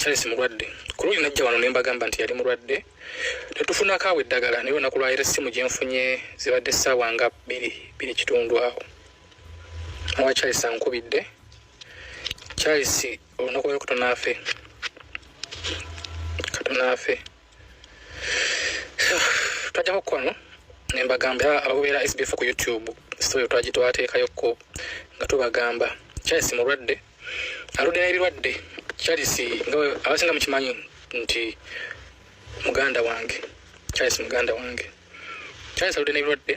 Charles mulwadde ku luuyi najja wano ne mbagamba nti yali mulwadde ne tufunako awo eddagala naye olunaku lwayira essimu gye nfunye zibadde essaawa nga bbiri bbiri kitundu awo owa Charles ankubidde Charles olunaku lwa katonda afe katonda afe twajjako kwano ne mbagamba era abakubeera SBF ku YouTube sitoyo twagitwateekayo ko nga tubagamba Charles mulwadde aludde n'ebirwadde charles nga abasinga mukimanyi nti muganda wange charles muganda wange charles aludde n'ebirwadde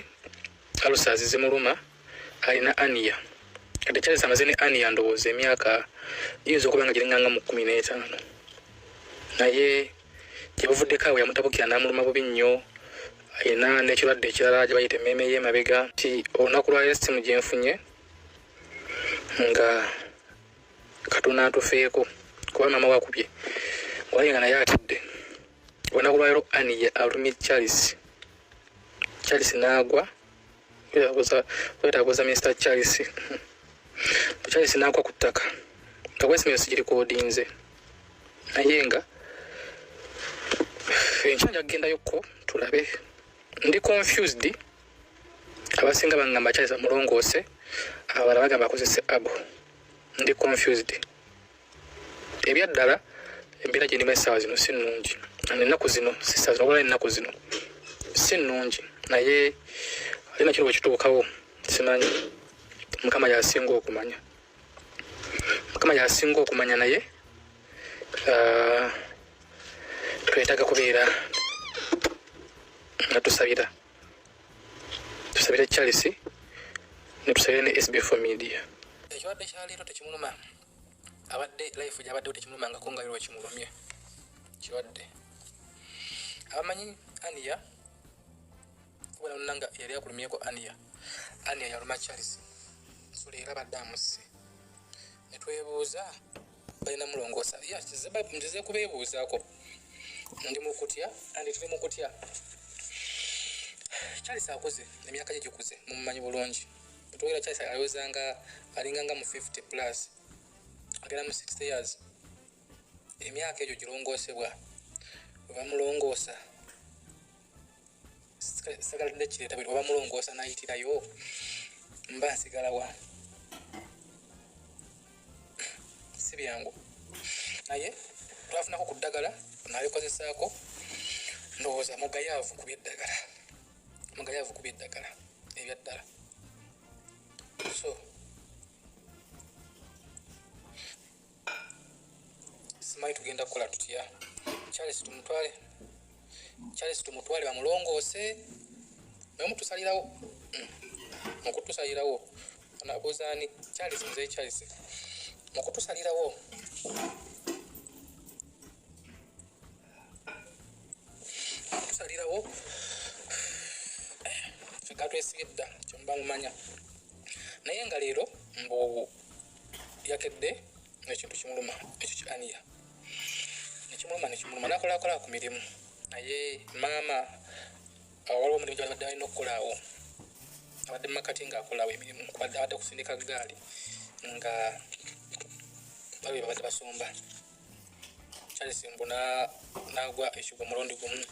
alusazi zimuluma alina ania kati charles amaze ne ania ndowooza emyaka yinza okuba nga giringanga mu kumi n'etaano naye gyebuvuddeko awo yamutabukira n'amuluma bubi nnyo alina n'ekirwadde ekirala gye bayita emmeeme y'emabega ti olunaku lwalero simu gyenfunye nga katuna atufeeko kuba mama wakubye wali nga naye atidde olunaku lwalero aniya alumye charles charles naagwa wetakuza minisita charles bu charles naagwa ku ttaka nga bwesimiro sigirikodinze naye nga enkya nja kugendayokko tulabe ndi confused abasinga bangamba kyalisa mulongoose abala bagamba akozese abu ndi confused ebyaddala embeera gyendimu essaawa zino si nnungi ennaku zino sisa zino obala ennaku zino si nnungi naye ali nakino bwe kituukawo simanyi mukama yasinga okumanya mukama yasinga okumanya naye ah, twetaaga kubeera nga tusabira tusabire charles netusabire ne sbf media ekibadde kyaleero tekimuluma abadde life gyabaddewo tekimulumangako nga lero wekimulumye kirwadde abamanyi ania kubona nona nga yali akulumyeko ania ania yaluma charles suleera badde amusse netwebuuza balina mulongoosa nzize kubeebuuzaako ndi mukutya andi tuli mukutya charles akuze emyaka gye gikuze mumumanyi bulungi twogera charles alowooza nga alinga nga mu 50 plus agenda mu 60 years emyaka egyo girongoosebwa webamulongoosa sagala tende kireta bwe oba mulongoosa nayitirayo mba nsigala wa si byangu naye twafunako ku ddagala nalikozesaako ndowooza mugayaavu kuba eddagala mugayaavu kuba eddagala ebyaddala so simanyi tugenda kukola tutya charles tumutwale charles tumutwale bamulongoose naye mutusalirawo mukutusalirawo onabuuzaani charles muzei charles mukutusalirawo mukutusalirawo fekatwesige dda kyomuba mumanya naye nga leero mbu yakedde ekintu kimuluma ekyo ki aniya nekimuluma nekimuluma nakolakola ku mirimu naye maama waliwo omulimu gyabadde alina okukolaawo abadde mumakati nga akolaawo emirimu kubadde abadde kusindika gaali nga babe babadde basomba charles mbu nagwa ekigwa omulundi gumu